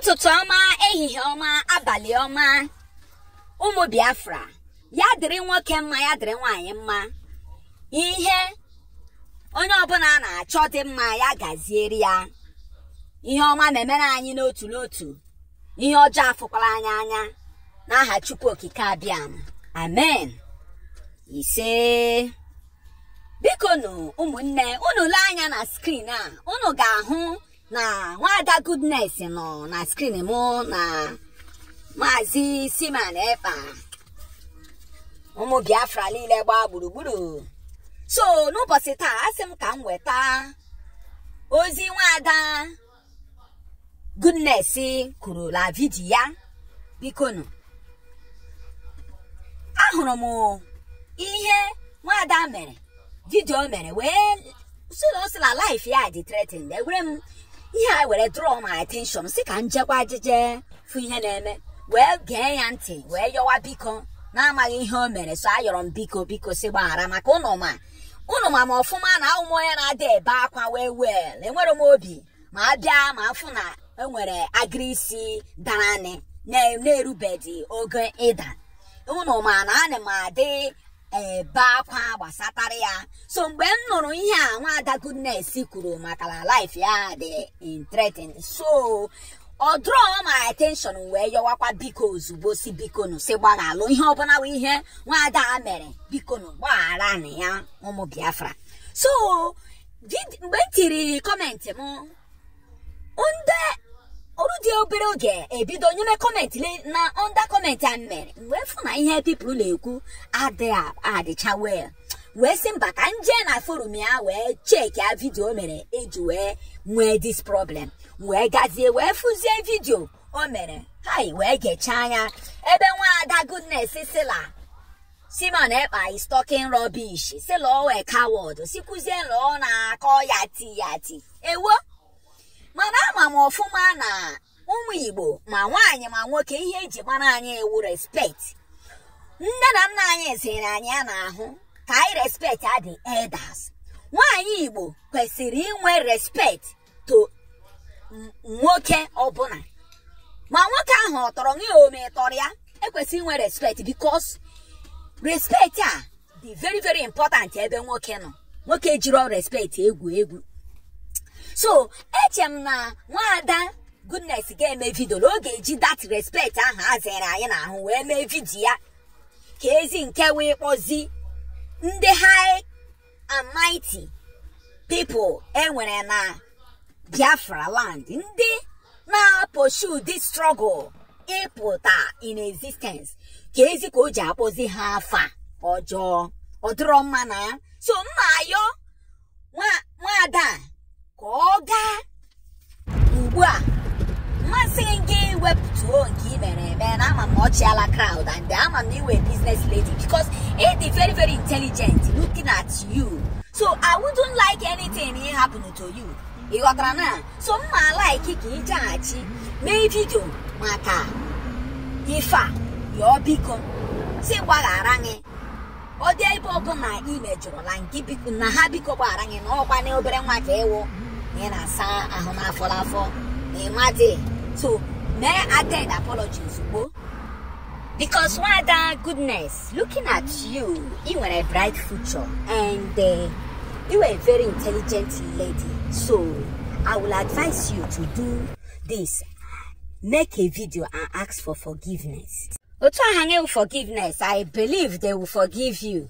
ụtụtụ ọma ehihie ọma abalị ọma ụmụ biafra ya dịrị nwoke mma ya dịrị nwaanyị mma ihe onye ọbụla na-achọ dị mma ya gaziere ya ihe ọma na-emere anyị n'otu n'otu ihe ọjọọ afụkwala anyị anya n'aha chukwu okike abịama amen ise bikonụ ụmụnne unu lee anya na screen a unu ga-ahụ na nwada goodness nọ na screen mụ na maazị simon ekpa ụmụ biafra niile gbaa gburugburu so n'ụbọchị taa asị m ka m weta ozi nwada goodness kwuru na vidiyo ya bikonụ ahụrụ m ihe nwada mere vidio o mere wee sị na ọ sị na life ya dị threatened ewere m ihe a wee draw my attention sị ka m jekwa ajije fụ ihe na-eme wee gee ya ntị wee yọwa biko n'amaghị ihe o mere so ayọrọ m biko biko sị gbaghara maka ụnụ ma ụnụ ma m ọfụma na awụ m onye na-adị ebe akwa very well enwere m obi ma a bịa ma afụ na enwere agịrị isi dara anị na-erubedi oge ịda ụnụ ma na ana m adị ebe akwa gbasatara ya so mgbe m nụrụ ihe a nwaada goodness kwuru maka na life ya dị threatened so ọ draw my attention wee yọwakwa biko ozugbo sị bikonụ sị gbaghalụ ihe ọbụla bụ ihe nwaada a mere bikonụ gbagharanụ ya ụmụ biafra so Vid- mgbe m tiri comment m ndị o rudi obere oge e bido nyeme comment le- na under comment a m mere m wee fụ na ihe people na-ekwu adịghị adịcha well wee sị mba ka m jee na forum ya wee checkie vidio o mere e ji wee nwee this problem wee gazie wee fụzie vidio o mere hai wee gechaa ya ebe nwaada goodness sị la Simon Ekpa is talking rubbish sị la ọ wụ coward sịkwuzi la ọ na-akọ yati yati ewo mana ama m ọfụma na ụmụ Igbo ma nwaanyị ma nwoke ihe e ji mara anyị wụ respect nne na nna anyị ziri anyị n'ahụ ka anyị respect ndị elders nwaanyị Igbo kwesịrị inwe respect to nwoke ọbụla ma nwoke ahụ ọ tọrọ gị ma ị tọrọ ya i kwesịrị inwe respect because respect a dị very very important ebe nwoke nọ nwoke jiri respect egwu egwu so eche m na nwaada goodness ga-eme vidio na ọ ga-eji that respect ahụ e ziri anyị n'ahụ wee mee vidio ya ka ezi nke wee kpọzi ndị ha and mighty people e nwere na biafra land ndị na-aposhu this struggle ịpụta in existence kee zi ka o ji akpọzi ha afa ọjọọ ọ dịrọ mma na so m ma-ayọ nwaada ka ọ gaa ugbu a m ma-asị gị wepụtuo nke ị mere eme na ama m ọ chịala crowd and ama m ị wụ business lady because ị dị very very intelligent looking at you so I wouldn't like anything ịhappen to you ị ghọtara na so m ma like ka ị jeghachi mee vidio maka ife a yọọ biko sị gbaghara gị ọ dị ebe ọ wụ na ị mejọrọla nke biko na ha biko gbaghara gị na ọ kwa na obere nwa ka ị wụ na ị na-asa ahụ n'afọ n'afọ na ị madị so mee tender apology ozugbo because nwaada goodness looking at you ị nwere bright future and uh, you are a very intelligent lady so i will advise you to do this make a video and ask for forgiveness otu ahụ anyị forgiveness I believe they will forgive you